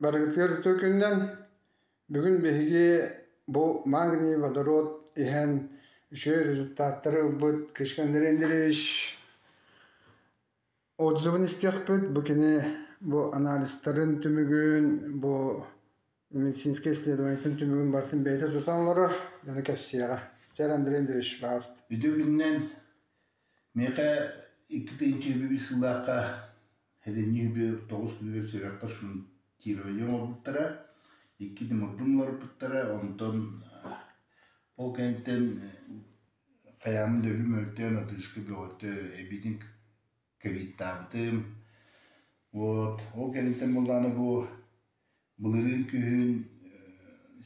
Барыгытыгар үтүө күнүнэн. Бүгүн биһиги бу Магний водород иһэн үчүгэй результаттары ылбыт Кычкандар Андреевич отзывын истиэхпит. Бу кини бу анализтарын түмүгүн, бу медицинскэй исследованийтан түмүгүн барытын бэйэтэ тутан олорор, дьону кэпсиэҕэ. Чэр Андрей Андреевич, пожалуйста. Өтөбүннэн миэхэ икки тыһыынча биир сыллаахха эдэннии үбү тоҕус күнүгэр сүрэхпэр шунтирование оҥорбуттара. Икки тымырбын уларыппыттара, онтон ол кэнниттэн хайаамын да өлүм мөлтөөн, адыыска бөҕөтө эбиитин кэбиттаабытым. Вот, ол кэнниттэн буоллаҕына бу былырыын күһүн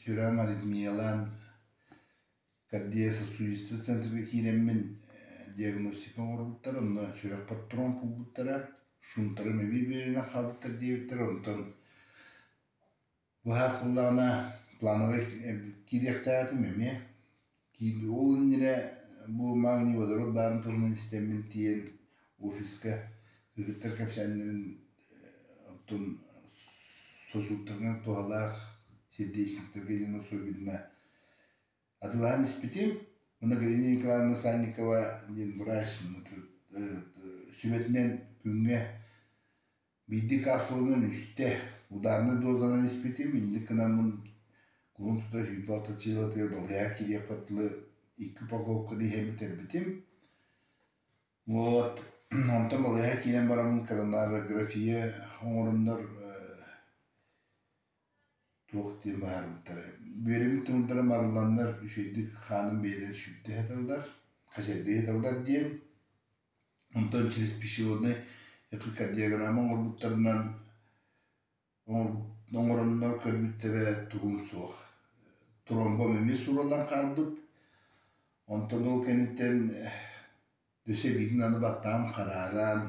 сүрэҕим аритмиялаан кардиососудистый центрга киирэммин диагностика оҥорбуттар, онно сүрэхпэр тромп булбуттара, шунтарым эбии биэринэн хаалбыттар диэбиттэр, онтон Быһаас буллаҕына плановай киириэхтээҕитим эмиэ. Ол иннинэ бу магний-водород баарын туһунан истэммин тиийэн офиска ыһыктар кэпсээннэрин оттон сосудтарынан туһалаах сердечниктэргэ диэн особенно атыылаһан испитим. Уонна Галина Николаевна Санникова диэн врач сүбэтинэн күҥҥэ Биирдик ааслыларынан үстэ, удаарнай дозанан испитим, инник гынаммын кулун тута сүүрбэ алта сыылатыгар балыйаҕа киириэхпэр дылы икки упаковканы иһэн бүтэрбитим. Вот, онтон балыйаҕа киирэн бараммын кронография оҥороннор туох диэн быһаарбыттара. Бүөрэбин тымырдара марылланнар, үчүгэйдик хааным бэйэлэрэ сүрдэ сыталлар, хачайдыы сыталлар диэн Онтон через пищеводнай эхикардиограмма оҥорбуттарынан оҥороннор көрбүттэрэ тугум суох. Тромбом эмиэ суураллан хаалбыт. Онтон ол кэнниттэн өссө биитин аны баттаҕым харааран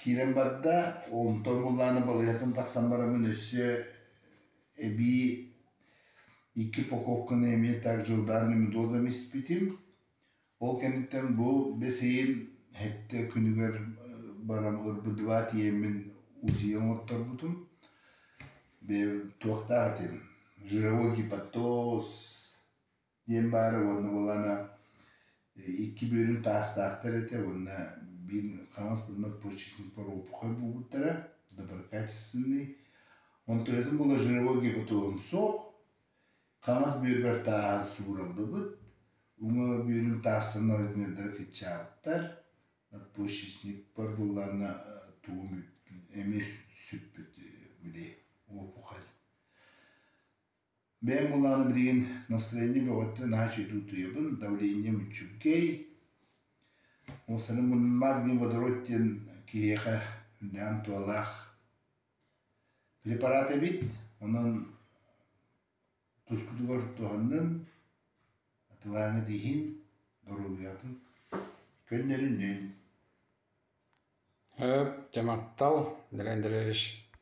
Киирэн барда, онтон буллаана балыыһаттан тахсан бараммын өссө эбии икки упаковканы эмиэ так дьылдааран мидозами испитим. Ол кэнниттэн бу бэсиин хэттэ күнүгэр баран ырбыдыбаат тиийэммин УЗИ оҥорторбутум. Бэйэбин туохтаах этим? Жировой гепатоз диэн баара уонна балаана икки бүөрүн таастаахтар этэ уонна биир хаҥас муннук почечник поропухай буолбуттара доброкачественный он тоһутун положировал гипотон суох хаҥас бүөрбэр тааһын суураллыбыт уҥа бүөрүм таастанар размердара кыччаабыттар почечникпар буоллаанна тугум эмиэ сүппүт били опухаль Бэйэм буоллаҕына билигин настроение бөҕөттөн наһаа үчүгэйдик утуйабын, давление мүччүкэй. Уопсайынан мунньуммар диэн водород диэн киһиэхэ үрдээн туолаах препарат эбит. Онон тускутугар туһаннын, атылааҥҥыт иһин, доруобуйатын көннөрүнүн. Өө, дьэ махтал, Дариан Андреевич.